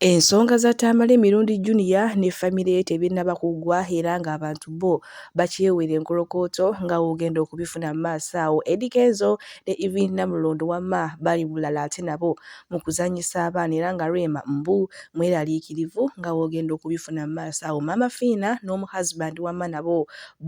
Ensonga za Tamale Mirundi Junior ne famire ye tebinnaba kuggwa era ng'abantu bbo bakyewera enkolokooto nga w'ogenda okubifuna mu maaso awo. Eddy Kenzo ne Iryn Namulondo wamma bali bulala ate nabo mu kuzannyisa abaana era nga Rema mbu mweraliikirivu nga w'ogenda okubifuna mu maaso awo. Maama Fiina n'omu husband wamma nabo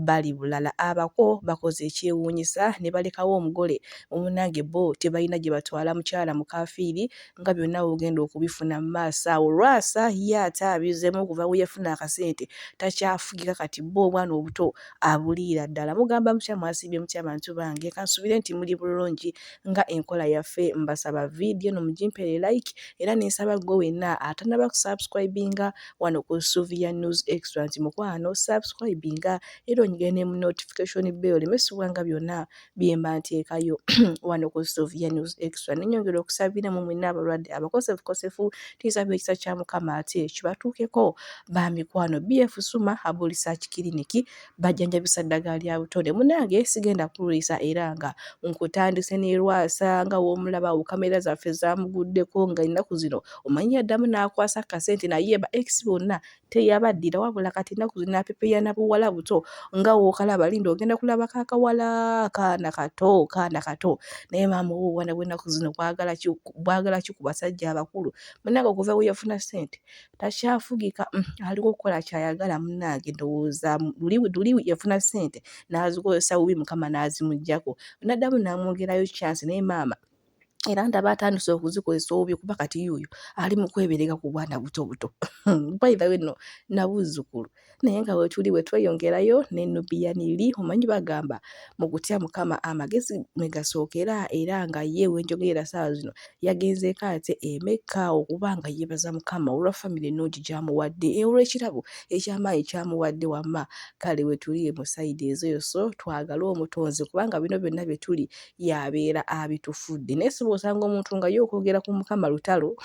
bali bulala. Abako bakoze ekyewuunyisa ne balekawo omugole munnange bbo tebalina gye batwala mukyala mukaafiiri. nga byonna wogenda okubifuna mu maaso awo lwasa ye ate abizemu okuva weyafuna akasente takyafugika kati bo obwana obuto abuliira ddala mugamba mutya mwasiibye mutya bantu bange kansubire nti muli bulungi nga enkola yaffe mbasaba vidiyo no mugimpere like era nensaba gwe wenna atanaba kusubscribinga wano ku suvia news extra nti mukwano subscribinga era onyigire ne mu notification bell oleme sibwanga byonna byemba nteekayo wano ku Sylvia News Extra nenyongera okusabira mu mwenna abalwadde abakosefukosefu tuyisaba ekisa kya Mukama ate kibatuukeko ba mikwano BF Suma abo research clinic bajjanjabisa ddagala lya butonde munange sigenda kulwisa era nga nkutandise ne lwasa nga w'omulaba wo kamera zaffe zamuguddeko nga ennaku zino omanyi yaddamu n'akwasa kasente naye ba ex bonna teyabaddira wabula kati ennaku zino apepeya na buwala buto nga wookalaba linda ogenda kulaba kakawala kaana kato kaana kato naye maama owo obwana bw'ennaku zino bwagala ki ku basajja abakulu munnange okuva we yafuna ssente takyafugika mm, aliwo okukola kyayagala munnange ndowooza luli yafuna ssente n'azikozesa bubi mukama n'azimugyako naddamu n'amwongerayo kyansi naye maama era ndaba atandise okuzikozesa obubyo kuba kati yuuyo ali mu kweberega ku bwana buto buto by the way no nabuzzukulu naye nga wetuli wetweyongerayo ne nubian li omanyi bagamba mu kutya mukama amagezi mwe gasookera era nga ye wenjogerera saawa zino yagenzeeko ate emekka okuba nga yeebaza mukama olwa famire ennungi gyamuwadde e, olw'ekirabo ekyamaanyi kyamuwadde wamma kale wetuli mu sayidi ezo yoso twagale omutonzi kubanga bino byonna bye tuli yabeera abitufudde naye siba osanga omuntu nga ye okwogera ku mukama lutalo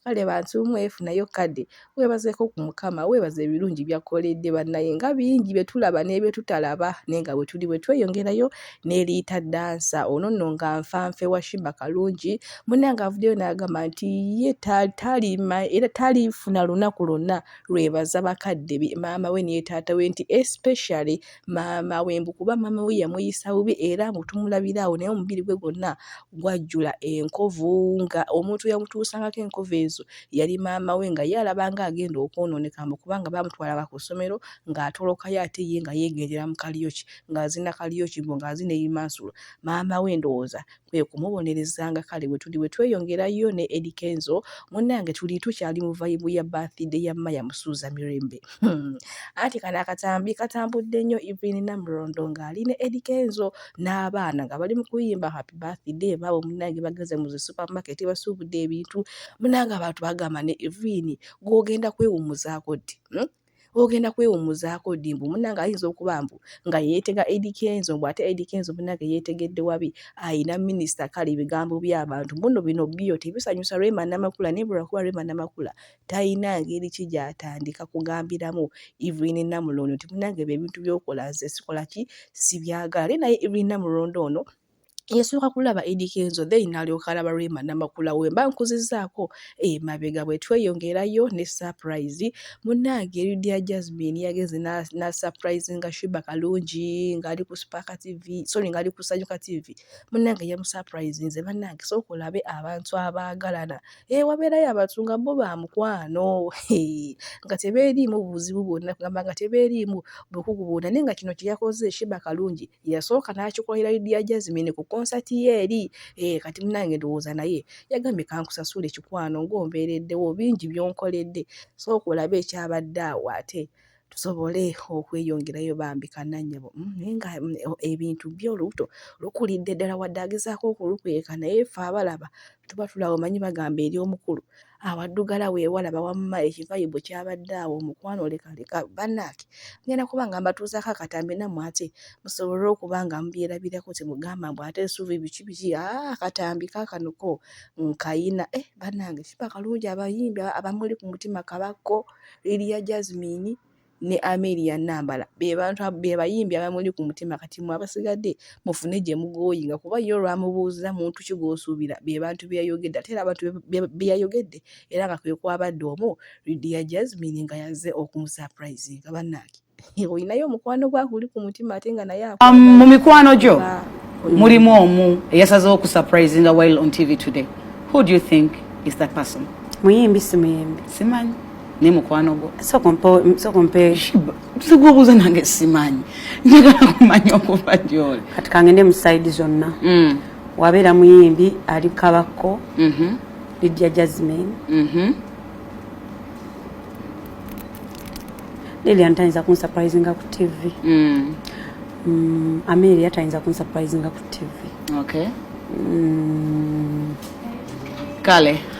kale bantu mwefunayo kadde webazeeko ku mukama webaza ebirungi byakkoledde bannaye nga bingi bye tulaba n'ebyetutalaba naye nga bwe tuli bwe tweyongerayo n'eriita dansa ono nno nga nfanfe wa shimba kalungi munange avuddeyo n'agamba nti ye talima era talifuna lunaku lwonna lwebaza bakadde be maama we neye taata we nti especially maama we mbu kuba maama we yamuyisa bubi era mbu tumulabira awo naye omubiri gwe gwonna gwajjula enkovu nga omuntu yamutuusangako enkovu ezo yali maama we nga ye alabanga agenda okwonooneka mbu kubanga baamutwalanga ku ssomero ng'atolokayo ate ye nga yeegendera mu kaliyoki ng'azina kaliyoki mbu ng'azina ebimansulo maama we ndowooza kwe kumubonereza nga kale bwe tuli bwe tweyongerayo ne Eddy Kenzo munnange tuli tukyali mu vayibu ya birthday ya Maya Musuuza Mirembe hmm. anti kano akatambi katambudde nnyo Evelyn Namulondo ng'ali ne Eddy Kenzo n'abaana nga bali mu kuyimba happy birthday baabo munnange bageze mu zi supermarket basuubudde ebintu munnange abantu bagamba ne Evelyn gw'ogenda kwewummuzaako ddi hmm? ogenda kwewumuzaako ddi mbu munange ayinza okuba mbu nga yeetega Eddy Kenzo mbu ate Eddy Kenzo munange yeetegedde wabi ayina minisita kale ebigambo by'abantu muno bino byo tebisanyusa Rema Namakula naye lwakuba Rema Namakula talina ngeri ki gy'atandika kugambiramu Evelyn Namulondo nti munange ebyo ebintu by'okola nze sikola ki sibyagala naye Evelyn Namulondo ono yasooka kulaba Eddy Kenzo then nalyoka alaba Rema Namakula wemba nkuzizaako emabega bwe tweyongerayo ne surprise munnange Lydia Jasmine yageze na, na surprise nga Shiba Kalungi ng'ali ku Spark TV sorry ng'ali ku Sanyuka TV munnange yamusurprisinze bannange sooka olabe abantu abaagalana e, wabeerayo abantu nga bo ba mukwano nga tebeeriimu buzibu bwonna kugamba nga tebeeriimu bukugu bwonna naye nga kino kye yakoze Shiba Kalungi yasooka n'akikolera Lydia Jazmine ku konsati ye eri eh, kati munange ndowooza naye yagambye kankusasule kikwano ng'ombeereddewo bingi by'onkoledde sooka olabe ekyabadde awo ate tusobole okweyongerayo bambi kananyabo mm, naye nga mm, ebintu byo olubuto lukulidde ddala wadde agezaako okulukweka naye fe abalaba tuba tulaba omanyi bagamba eri omukulu awaddugala weewalaba wamma ekivayibu kyabadde awo omukwano lekaleka bannange ngenda kuba nga mbatuuzaako akatambi nammwe ate musobole okuba nga mubyerabirako temugamba mbu ate esuubi biki biki ah, akatambi kakanuko nkayina eh, bannange kiba kalungi abayimbi abamuli ku mutima kabakko liriya jasmine ne Amelia Nambala be bantu be bayimbi abamuli ku mutima kati mwe abasigadde mufune gye mugooyinga kuba ye olwamubuuza muntu ki gw'osuubira be bantu be yayogedde ate era abantu be yayogedde era nga kwe kwabadde omu Lydia Jasmine nga yazze okumusapurayizinga bannange olinayo omukwano gwa guli ku mutima ate nga naye um, mu mikwano gyo mulimu omu eyasaze okusapurayizinga while on TV today who do you think is that person muyimbi simuyimbi simanyi naye mukwano gwo sokompesigwobuuza nange simanyi njagala kumanya okuva gyoli kati kangende musaidi zonna mm. wabeera muyimbi ali kabakko mm-hmm. lidia jasmin mm-hmm. lilian tayinza kunsurprisinga ku tv mm. mm, amelia tayinza kunsurprisinga ku tv kale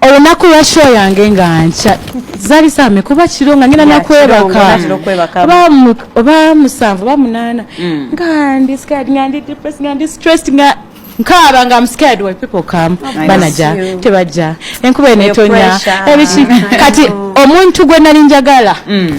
olunaku lwa show yange nga nkya zali same kuba kiro nga ngenda nakwebaka oba musanvu oba munaana mm. nga ndi scared nga ndi depressed nga ndi stressed nga nkaaba nga mscared why people come banaja tebajja enkuba enetonya ebiki kati omuntu gwe nali njagala mm.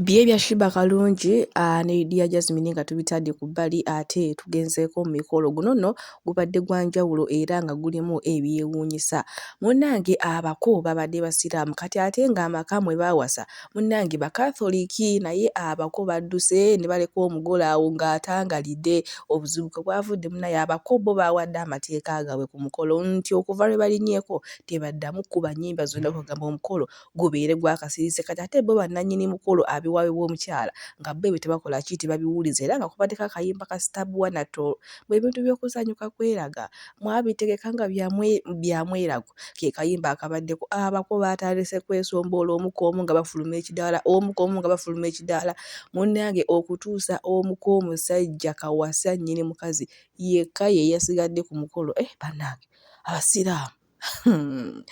Bye bya Shiba Kalungi uh, ne Dia Jasmine nga tubitadde ku bbali ate tugenzeeko mu mikolo guno nno gubadde gwa njawulo era nga gulimu ebyewuunyisa munnange abako babadde basiraamu kati ate ng'amaka mwe baawasa munnange bakatholiki naye abako badduse ne baleka omugole awo ng'atangalidde obuzibu kwe bwavudde munnaye abako bo baawadde amateeka gaabwe ku mukolo nti okuva lwe balinyeeko tebaddamu kuba nnyimba zonna okugamba omukolo gubeere gwakasirise kati ate bo bannanyini mukolo abiwaayo bw'omukyala nga bo ebyo tebakola ki tebabiwuliza era nga kubaddeko akayimba ka Stab One at All mbu ebintu by'okusanyuka kweraga mwabitegeka nga bya mwerago ke kayimba akabaddeko abako baatandise kwesomboola omu ku omu nga bafuluma ekidaala omu ku omu nga bafuluma ekidaala munnange okutuusa omu ku omusajja kawasa nnyini mukazi yekka ye yasigadde ku mukolo eh bannange Abasiraamu. Hmm.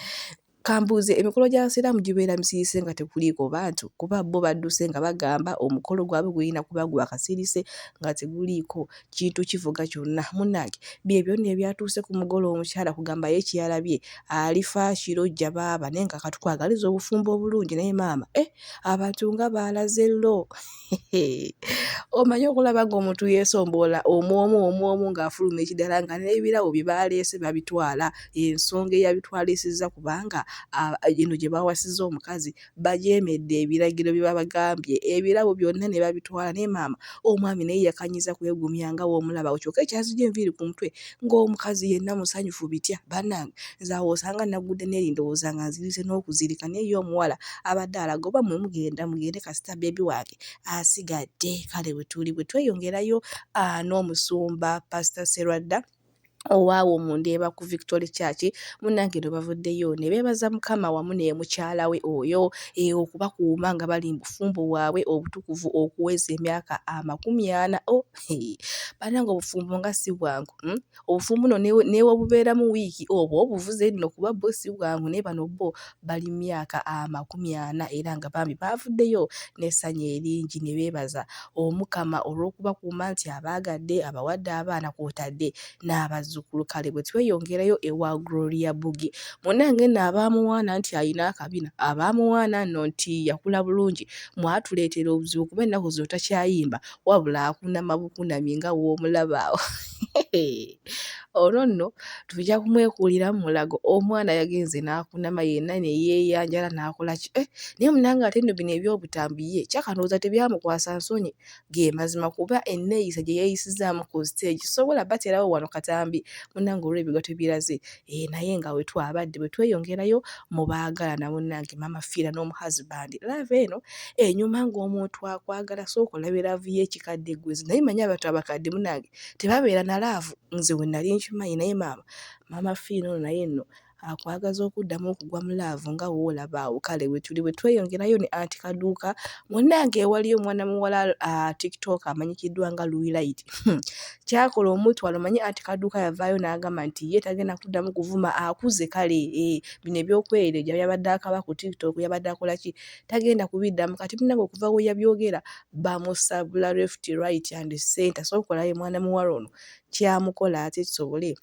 kambuuze emikolo gy'abasiraamu gibeera misirise nga tekuliiko bantu kuba bo badduse nga bagamba omukolo gwabwe gulina kuba gwa kasirise nga teguliiko kintu kivuga kyonna munnange bye byonna ebyatuuse ku mugole omukyala kugamba ye kyeyalabye alifa kiro jja baaba naye nga katukwagaliza obufumbo obulungi naye maama e eh, abantu nga baalaze lo omanyi okulaba ng'omuntu yeesomboola omu omu omu omu ng'afuluma ekidala nga n'ebirabo bye baaleese babitwala ensonga eyabitwalisizza kubanga eno gye baawasizza omukazi bajeemedde ebiragiro bye babagambye ebirabo byonna ne babitwala naye maama omwami naye yakanyiza kwegumya nga w'omulaba awo kyokka ekyazigye enviiri ku mutwe ng'omukazi yenna musanyufu bitya banange nze awo osanga nagudde neri ndowooza nga nzirise n'okuzirika naye ye omuwala abadde alaga oba mwe mugenda mugende kasita baby wange asigadde kale wetuli bwetweyongerayo aah n'omusumba pastor Sserwadda owaawo mu Ndeeba ku Victory Church munnange eno bavuddeyo ne beebaza Mukama wamu ne mukyala we oyo e, okubakuuma nga bali mu bufumbo bwabwe obutukuvu okuweza emyaka amakumi ana. Oh. banange obufumbo nga si bwangu hmm? obufumbo no newobubeeramu wiiki obwo obuvuze nno kuba bo si bwangu naye bano bo bali myaka amakumi ana era nga bambi baavuddeyo n'essanyu eringi ne beebaza omukama olw'okubakuuma nti abaagadde abawadde abaana kwotadde n'abazzukulu kale bwe tweyongerayo ewa gloria bugi munange nno abaamuwaana nti alina akabina abaamuwaana nno nti yakula bulungi mwatuleetera obuzibu kuba ennaku zino takyayimba wabula akunama bukunami nga w'omulaba awo olwo nno tujja kumwekuulira mu mulago omwana yagenze n'akunama yenna ne yeeyanjala n'akola ki eh, naye munange ate nno bino ebyobutambi ye kyakanooza tebyamukwasa nsonyi ge mazima kuba enneeyisa gye yeeyisizaamu ku siteegi sobola baterawo wano katambi munange olw'ebigo tebiraze Eeh naye nga wetwabadde bwetweyongerayo mu baagalana munange mama fiira nomu husband love eno enyuma nga omuntu akwagala sooka olabe love yekikadde gwe naye manyi abantu abakadde munange tebabeera na love nze wenali nkimanyi naye maama mama fiina ono naye nno akwagaza okuddamu okugwa mu love nga woolaba awo kale wetuli bwetweyongerayo ne anti kaduuka munange ewaliyo omwana muwala ah, tiktok amanyikiddwa nga luilait Hmm. kyakola omutwalo manye anti kaduuka yavaayo n'agamba nti ye tagenda kuddamu kuvuma akuze kale eh, bino ebyokwereja yabadde akaba ku tiktok yabadde akola ki tagenda kubiddamu kati binange okuva we yabyogera bamusabula left right and center so okolayo mwana muwala ono kyamukola ate kisobole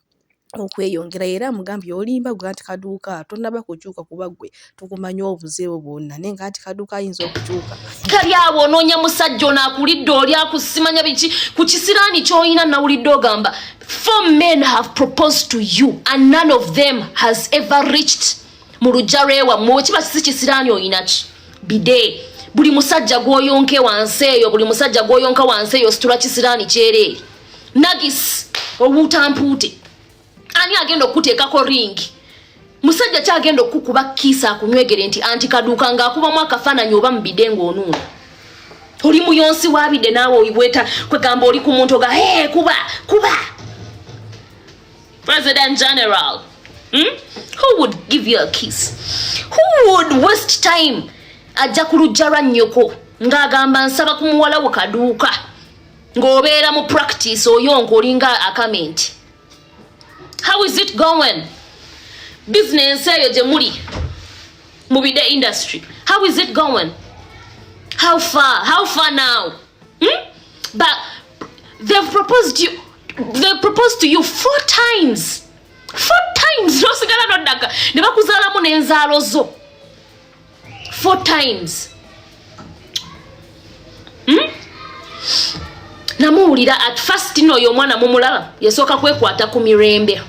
okweyongera era amugambye olimba gwe anti kaduuka tonaba kukyuka kuba gwe tukumanyi obuzeewo bwonna naye nga anti kaduuka ayinza okukyuka kali awo onoonya musajja ono akulidde oli akusimanya biki ku kisiraani kyolina nawulidde ogamba four men have proposed to you and none of them has ever reached mu lujja lwewamwe wekiba sisi kisiraani oyinaki bidee buli musajja gwoyonke wansi eyo buli musajja gwoyonka wansi eyo situla kisiraani kyereere nagis obuutampuute ani agenda okukuteekako ringi musajja ki agenda okukukuba kiisa akunywegere nti anti kaduuka ng'akubamu akafaananyi oba mubide ng'onuuna oli muyonsi wabide naawe oiweta kwegamba oli ku muntu oga e kuba kuba president general hmm? who would give you a kiss who would waste time ajja ku lujja lwa nnyoko ng'agamba nsaba ku muwala we kaduuka ng'obeera mu practice oyonka olinga akamenti how is it going business eyo gye muli mu bide industry how is it going how far how far now hmm? but they've proposed you they proposed to you four times four times nosigala nodaka ne bakuzaalamu n'enzaalo zo Four times. Hmm? Namuwulira at first no yo mwana mumulaba yasooka kwekwata ku mirembe.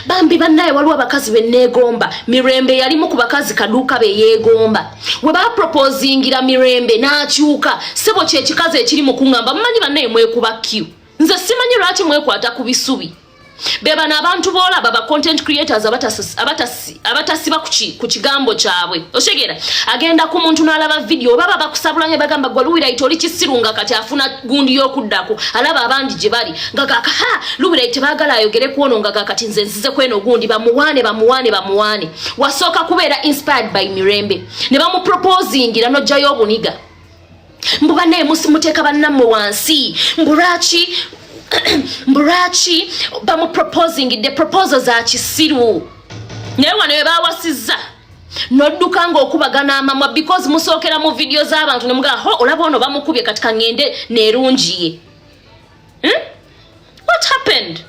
Bambi bannaye waliwo abakazi be neegomba mirembe yalimu ku bakazi kaduuka be yeegomba we bapropozingira mirembe n'akyuka sebo kyekikazi ekiri mu kuŋŋamba mumanyi bannaye mwekuba q nze simanyi lwaki mwekwata ku bisubi bebano abantu boolaba ba content creators abatasiba ku kigambo kyabwe okitegera agenda ku muntu n'alaba vidiyo oba babakusabula ne bagamba gwe luwiraiti oli kisiru nga kati afuna gundi y'okuddako alaba abandi gye bali nga gakaha luwiraiti tebaagala ayogere ku ono nga gakati nze nzize ku eno gundi bamuwaane bamuwaane bamuwaane wasooka kubeera inspired by mirembe ne bamuproposingira n'ojjayo obuniga mbu banaye muteeka bannammwe wansi mbu lwaki mbu lwaki bamuproposingidde proposo za kisiru naye wano we bawasizza nodduka ngaokubagana amamwa because musookera mu vidiyo z'abantu ne mugaa ho olaba ono bamukubye kati kaŋŋende neerungiye hmm? what happened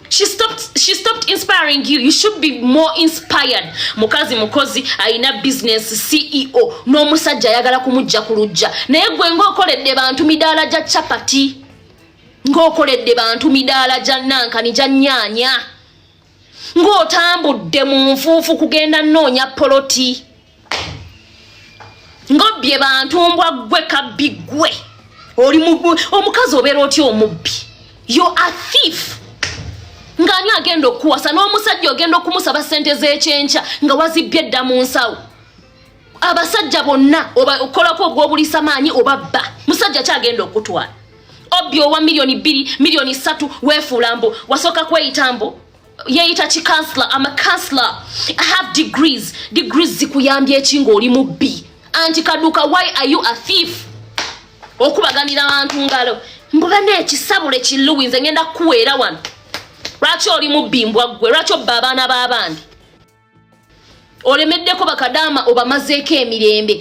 She stopped, she stopped inspiring you. You should be more inspired. Mukazi mukozi ayina business CEO n'omusajja ayagala kumujja ku lujja naye gwe ng'okoledde bantu midaala gya chapati ng'okoledde bantu midaala gya nankani gya nyaanya ng'otambudde mu nfuufu kugenda nnoonya poloti ngobbye bantu mbwa gwe kabbi gwe oli omukazi obeera otya omubbi yo a thief ng'ani agenda okuwasa n'omusajja ogenda okumusaba sente z'ekyenkya nga wazibbye edda mu nsawo abasajja bonna okolako ogw'obulisa maanyi oba bba musajja kyagenda okutwala obbi owa miliyoni bbiri miliyoni ssatu weefuula mbu wasooka kweyita mbu yeyita ki counselor am a counselor i have degrees degrees zikuyambye eki ng'oli mubbi anti kaduka why are you a thief okubaganira abantu ngalo mbuga nekisabule kiluwi nze ngenda kukuweera wano lwaki oli mubbi mbwa ggwe lwaki obba abaana b'abandi olemeddeko bakadaama obamazeeko emirembe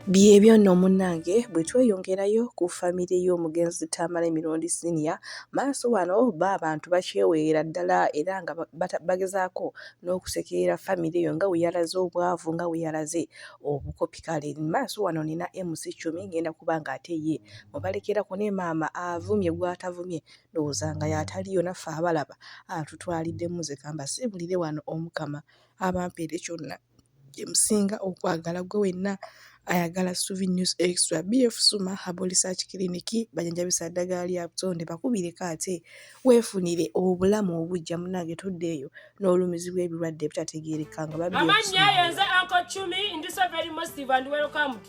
Byebyo nno munnange bwe tweyongerayo ku famire y'omugenzi Tamale Mirundi Senior maaso wano bo abantu bakyeweera ddala era nga bagezaako n'okusekerera famire eyo nga bwe yalaze obwavu nga bwe yalaze obukopi kale maaso wano nina MC Chumi ngenda kuba ng'ate ye mubalekera ku ne maama avumye gw'atavumye ndowooza nga y'ataliyo naffe abalaba atutwalidde muze kamba simbulire wano omukama abampeere kyonna gye musinga okwagala gwe wenna ayagala suvi news extra bf suma habo research clinic bajanjabisa ddagala lya butonde bakubireko ate weefunire obulamu obujja munange toddeeyo n'olumizibwa ebirwadde ebitategeereka nga babiamannya ayo nze anko cumi ndi so very mosive and welcomed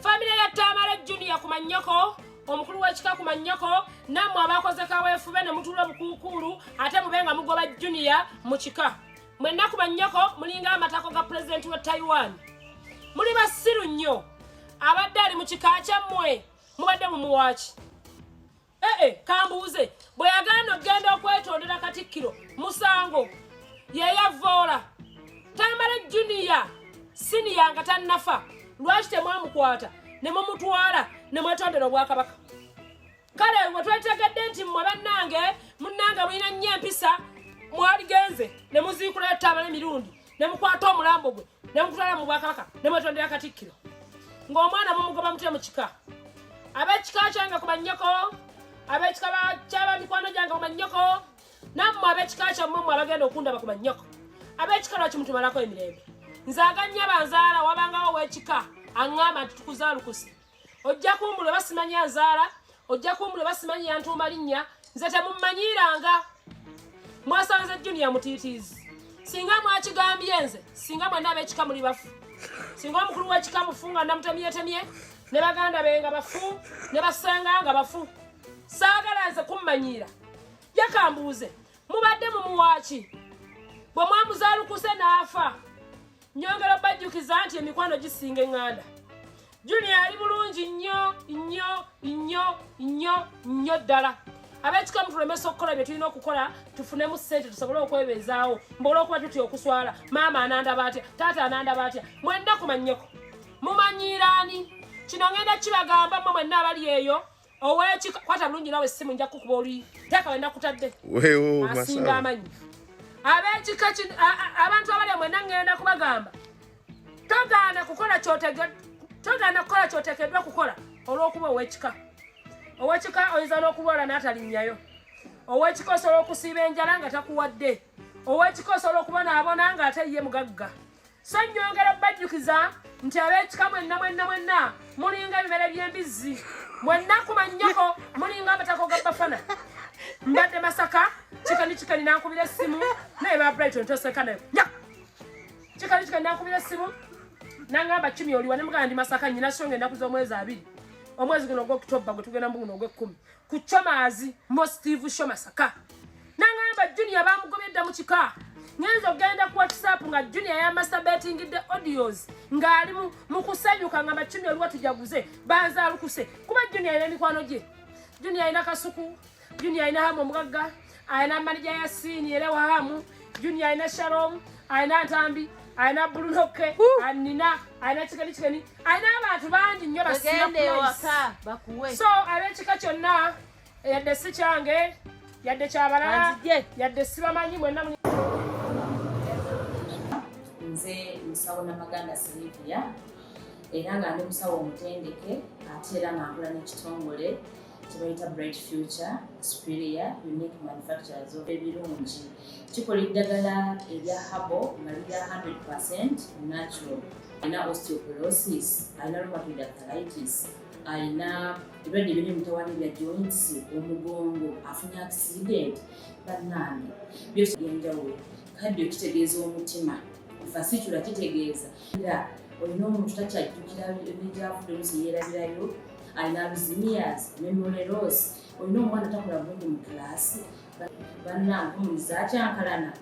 famire ya tamale junior ku mannyoko omukulu w'ekika ku mannyoko nammwe abakoze kaweefube ne mutuula obukuukuulu ate mube nga mugoba junior mu kika mwenna ku mannyoko mulinga amatako ga pulezidenti wa taiwan muli basiru nnyo abadde ali mu kika kyammwe mubadde mumuwaaki ee eh, eh, kambuuze bwe yagenda okugenda okwetondera katikkiro musango yeyavoola tamale juniya siniya nga tannafa lwaki temwamukwata ne mumutwala ne mwetondera obwakabaka kale we twetegedde nti mmwe bannange munnange mulina nnyo empisa mwaligenze ne muziikulayo tamale mirundi ne mukwata omulambo gwe ne mutwala mu bwakabaka ne mwetondera katikkiro ng'omwana mumugoba mutya mu kika ab'ekika kyange ku bannyoko ab'ekika kyaba mikwano gyange ku bannyoko nammwe ab'ekika kyammwe mmwe abagenda okundaba ku bannyoko ab'ekika lwaki mutumalako emirembe nze aganyaba nzaala wabangawo ow'ekika aŋŋamba nti tukuzaalukuse ojja kumbula oba simanyi anzaala ojja kumbula oba simanyi yantuuma linnya nze temummanyiiranga mwasanze junior mutiitiizi singa mwakigambye nze singa mwana ab'ekika muli bafu singa omukulu w'ekika mufu nga namutemyetemye ne baganda be nga bafu ne basenga nga bafu saagala nze kummanyiira yakambuuze mubadde mumuwaaki bwe mwamuzaalukuse n'afa nyongera obajjukiza nti emikwano gisinga eŋŋanda junior ali bulungi nnyo nnyo nnyo nnyo nnyo ddala abekikamu tulemesa okukola bye tulina okukola tufunemu sente tusobole okwebeezaawo mbaola okuba tutya okuswala maama anandaba atya taata anandaba atya mwenna kumanyeko mumanyiiraani kino ngenda kibagamba mwe mwenna abali eyo oweki kwata bulungi nawe simu nja kukuba oli teka wenda kutadde wewo masinga amanyi abekika kino abantu abali amwe nangenda kubagamba togaana kukola kyotege togaana kukola kyotekedwa kukola olwokuba owekika owekika oyinza n'okulwala n'atalinnyayo owekika osobola okusiiba enjala nga takuwadde owekika osobola okubonaabona nga ate ye mugagga so nyongera bajjukiza nti ab'ekika mwenna mwenna mwenna mulinga ebimere by'embizzi mwenna kumannyako mulinga amatako ga bafana mbadde masaka kikani kikani nankubira essimu naye ba brighton toseka nayo nya kikani kikani nankubira essimu nangamba kimi oliwa ne muganda ndi masaka nyina songa ennaku z'omwezi abiri omwezi guno ogwokutobba gwe tugenda mu guno ogw'ekkumi ku comazi mo steve shomasaka nangamba junior bamugobedda mu kika ngenza okugenda ku whatsapp nga junior yamasabetingidde audios ng'ali mu kusanyuka nga macumi oliwa tujaguze banzalukuse kuba junior era emikwano gye junior alina kasuku junior alina hamu omugagga alina manija ya siini era wahamu junior alina shalom alina ntambi alina bulunoke anina alina kikani kikani alina abantu bangi nnyo so abekika kyonna yadde si kyange yadde kyabalala yadde sibamanyi mwenna nze musawo namaganda silivia era nga ndi musawo omutendeke ate era nga nkula n'ekitongole kyebayita bright future superior unique manufacturers of ebirungi kikola eddagala erya habo nga lirya 100 percent natural alina osteoporosis alina rheumatoid arthritis alina ebirwadde ebiri emitawana bya joints omugongo afunye accident bannange byosi byenjawulo kaddio kitegeeza omutima fasitula kitegeeza era olina omuntu takyajjukira negyavudde olusi yeerabirayo I love Zimias, Memory Rose. Olina omwana takola bulungi mu kilaasi. Bannange omuntu zakyankalana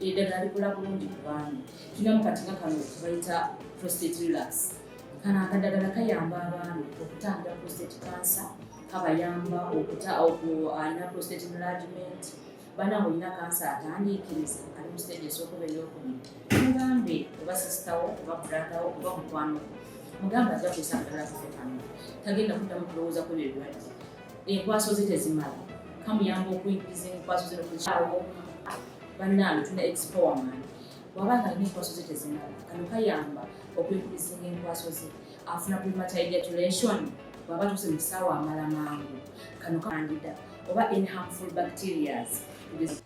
eddagala likola bulungi ku baami. Tulina mu katinga kano tubayita prostate relax. Kano akadagala kayamba abaami okutangira prostate cancer, kabayamba okuta alina prostate enlargement. bana olina kansa atandiikiriza ali mu siteegi esookuba eyokubiri mugambe oba sisitawo oba bradawo oba mukwano mugambe ajja kwesangalala kufe kano tagenda kuddamu kulowooza kwebyo ebirwadde enkwaso ze tezimala kamuyamba okuyingiza enkwaso ze nokukyawo bannange tuna expowerman waba nga alina enkwaso ze tezimala kano kayamba okwekubisa enkwaso ze afuna premature ejaculation bwaba tuse mu kisaawa amala mangu kano kandida oba in harmful bacterias